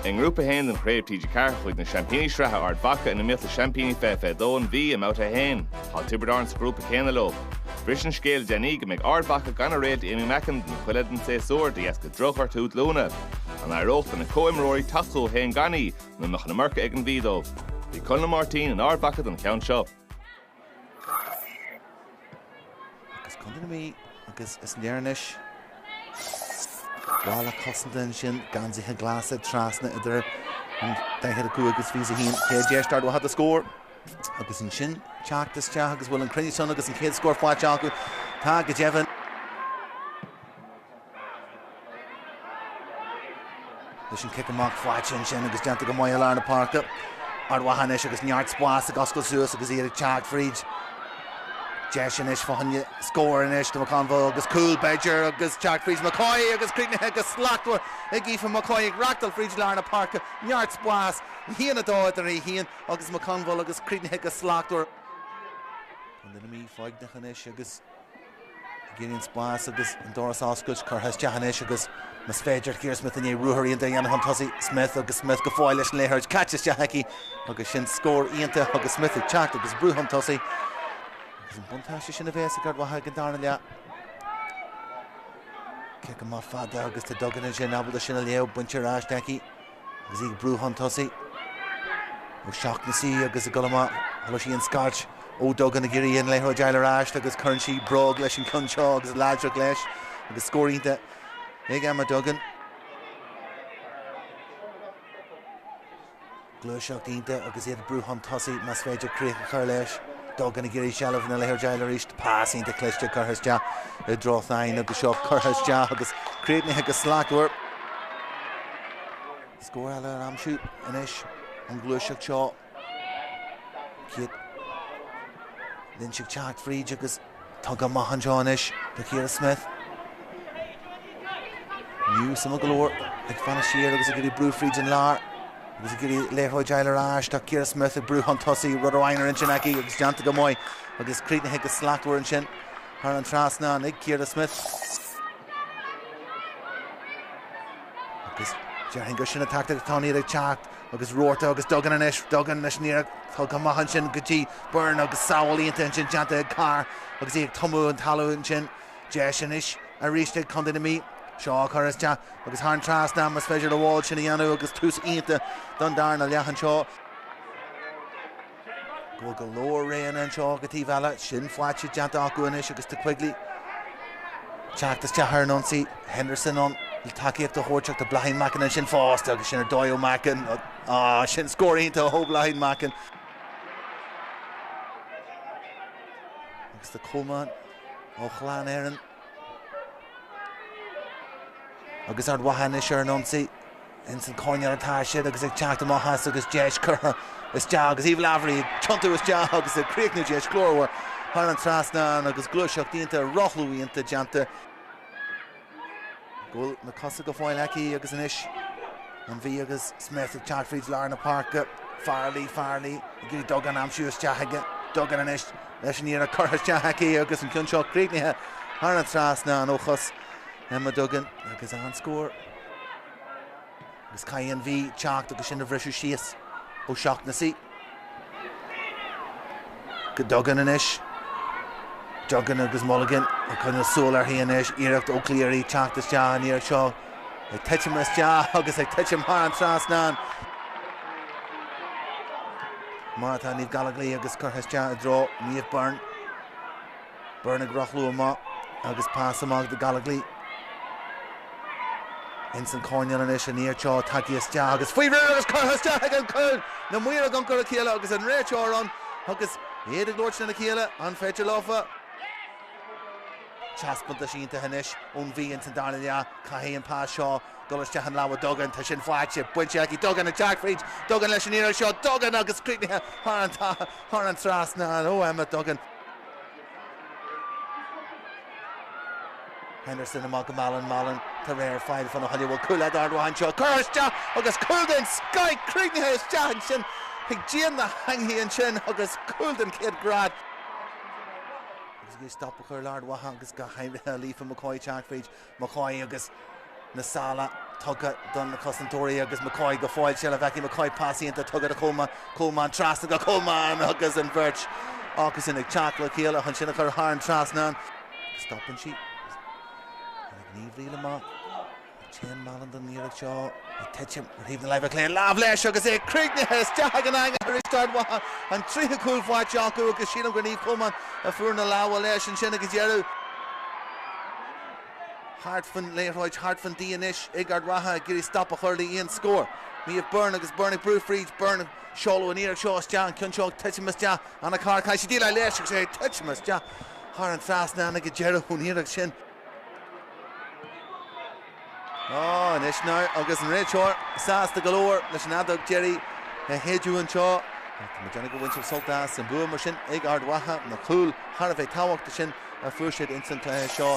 I nGrúpa 1 den Chraobh TG4, chuaigh na seaimpíní sraithe Ard Mhacha i mbun gnímh le seaimpíní 2022 an Mhí i mBabhta 1. Tá Tiobraid Árann sa ghrúpa céanna leo. Bhris an scéal le déanaí go mbeidh Ard Mhacha gan a réalt Aimee Mackin don chuid eile den tséasúir de dheasca drochghortú glúine. An éireodh lena comhimreoirí teacht slán gan í, nó an mbeadh an iomarca ag an Mhí dóibh? Bhí Conall Máirtín in Ard Mhacha don cheann seo. agus Contae na Mí agus is léir anois balla cosanta ansin geansaithe glasa trasna idir an 45 agus 21 chéad deis tarlú don scór agus ansin teacht isteach agus bhfuil an cruinneas ann agus an chéad scór faighte acu tá go deimhin Leis an cic amach faighte ansin agus déanta go maith i lár na páirce. Ard Mhacha anois agus neart spáis ag oscailt suas agus iad ag teacht fríd. Deis anois fá choinne scóir anois do McConville agus cúl b'fhéidir agus teacht fríd McCoy agus críochnaithe go slachtmhar ag Aoife McCoy ag reachtáil fríd lár na páirce. Neart spáis, 1-2 idir í féin agus McConville agus críochnaithe go slachtmhar. An Mhí foighneach anois agus. Ag iarraidh an spáis agus an doras a oscailt, curtha isteach anois agus, más féidir, ag iarraidh Smith i ndiaidh ruathar iontach a dhéanamh chun tosaigh. Smith agus Smith go fóill leis an liathróid, caite isteach aici agus sin scór iontach agus Smith ag teacht agus ag brú chun tosaigh agus an buntáiste sin a bhéas ag Ard Mhacha ag an darna leath. Cic amach fada agus tá Duggan ansin ábalta sin a léamh, bainte ar ais aici. Agus í ag brú chun tosaigh, O'Shaughnessy agus ag dul amach, chuala sí an scairt, Ó Duggan ag iarraidh an liathróid fháil ar ais agus cuireann sí bróg leis an ceann seo agus láidreacht leis agus scór iontach ag Emma Duggan. Gluaiseacht iontach agus iad ag brú chun tosaigh, más féidir críoch a chur leis. Duggan ag iarraidh seilbh na liathróid fháil arís, pas iontach cliste curtha isteach i dtreo Thynne agus seo curtha isteach agus críochnaithe go slachtmhar. Scór eile a aimsiú anois ón ghluaiseacht seo. Caithfidh Lynch ag teacht fríd agus rogha maith anseo anois do Chiara Smith. An Mhí sona go leor ag fanacht siar agus ag iarraidh brú fríd an lár agus ag iarraidh an liathróid fháil ar ais. Tá Ciara Smith ag brú chun tosaigh, rud amháin ar intinn aici agus déanta go maith agus críochnaithe go slachtmhar ansin thar an trasnán ag Ciara Smith. Agus déarfainn gur sin an taictic atá, an Mhí ag teacht agus ruathar agus Duggan anois, Duggan leis an iarracht, tugtha go maith ansin go dtí Byrne agus sábháil iontach ansin déanta ag Carr agus í ag tumadh chun talaimh ansin. Deis anois arís ag Contae na Mí seo a chur isteach agus thar an trasnán más féidir le Wall sin a dhéanamh agus tús iontach don darna leath anseo. go bhfuil go leor roghanna anseo go taobh eile, sin faighte déanta acu anois agus tá Quigley ag teacht isteach ar an ionsaí, Henderson ann le tacaíocht a thabhairt ach tá Bláithín Mackin ansin fosta agus sin ar dóigh ó Mackin, ah sin scór iontach ó Bhláithín Mackin. Agus tá Coleman ó Chlann Éireann. Agus Ard Mhacha anois ar an ionsaí, ins an coirnéal atá siad agus ag teacht amach as agus deis curtha isteach agus Eve Lavery ag tiontú isteach agus ag críochnú deis glórmhar thar an trasnán agus gluaiseacht iontach rothlú iontach déanta go bhfuil na cosa go fóill aici agus anois an Mhí agus Smyth ag teacht fríd lár na páirce, Farrelly, Farrelly ag iarraidh Duggan aimsiú isteach chuig Duggan anois. leis an iarracht curtha isteach aici agus an ceann seo críochnaithe thar an trasnán ó chos Emma Duggan agus an-scór. Agus caithfidh an Mhí teacht agus sin a bhriseadh síos ó Shaughnessy go Duggan anois. Duggan agus Mulligan ag coinneáil súil uirthi anois. Iarracht ó Cleary teacht isteach an iarracht seo. Ag titim isteach agus ag titim thar an trasnán. Mar atá Niamh Gallogly agus curtha isteach i dtreo Niamh Byrne. Byrne ag rothlú amach agus pas amach do Gallogly. Ins an coirnéal anois an iarracht seo tagtha isteach agus faoi réir agus curtha isteach ag an chúl. Na maoir ag amharc ar a chéile agus an réiteoir ann agus iad ag labhairt lena chéile, an féidir leofa? Taispeántas iontach anois ón Mhí ins an darna leath. Caithfidh an pas seo dul isteach i lámha Duggan. Tá sin faighte. Bainte aici. Duggan ag teacht fríd. Duggan leis an iarracht seo. Duggan agus críochnaithe thar an trasnán ó Emma Duggan. Henderson amach go Mallon. Mallon tá réir faill fan a thuile bhfuil cúl d'Ard Mhacha anseo. Curtha isteach agus cúl den scoith críochnaithe isteach ansin chuig díon na heangaí ansin agus cúl den chéad grád. Ag stop a chur le hArd Mhacha agus go háirithe le Aoife McCoy teacht fríd McCoy agus na sála tugtha do na cosantóirí agus McCoy go fóill seilbh aici McCoy pas iontach tugtha do Coleman, Coleman trasna go Coleman agus an bheirt acusan ag teacht le chéile chun sin a chur thar an trasnán. Stopann sí ag Niamh Reel amach. Téann Mallon don iarracht seo, ag titim ar thaobh na láimhe clé. Lámh leis agus é críochnaithe isteach chuig an eangach arís d'Ard Mhacha, an tríú cúl faighte acu agus sílim gur Niamh Coleman a fuair na lámha leis ansin ag an deireadh. Thart faoin liathróid, thart faoin D anois ag Ard Mhacha ag iarraidh stop a chur le aon scór. Niamh Byrne agus Byrne ag brú fríd. Byrne ag seoladh an iarracht seo isteach, an ceann seo ag titim isteach. Anna Carr, caithfidh sí déileáil leis agus é ag titim isteach thar an trasnán ag an deireadh ón iarracht sin. Anois agus an réiteoir sásta go leor leis an fheadóg deiridh a shéideadh anseo, tá siad ag baint sult as an bua mar sin ag Ard Mhacha, na cúil thar a bheith tábhachtacha sin a fuair siad ins an cluiche seo.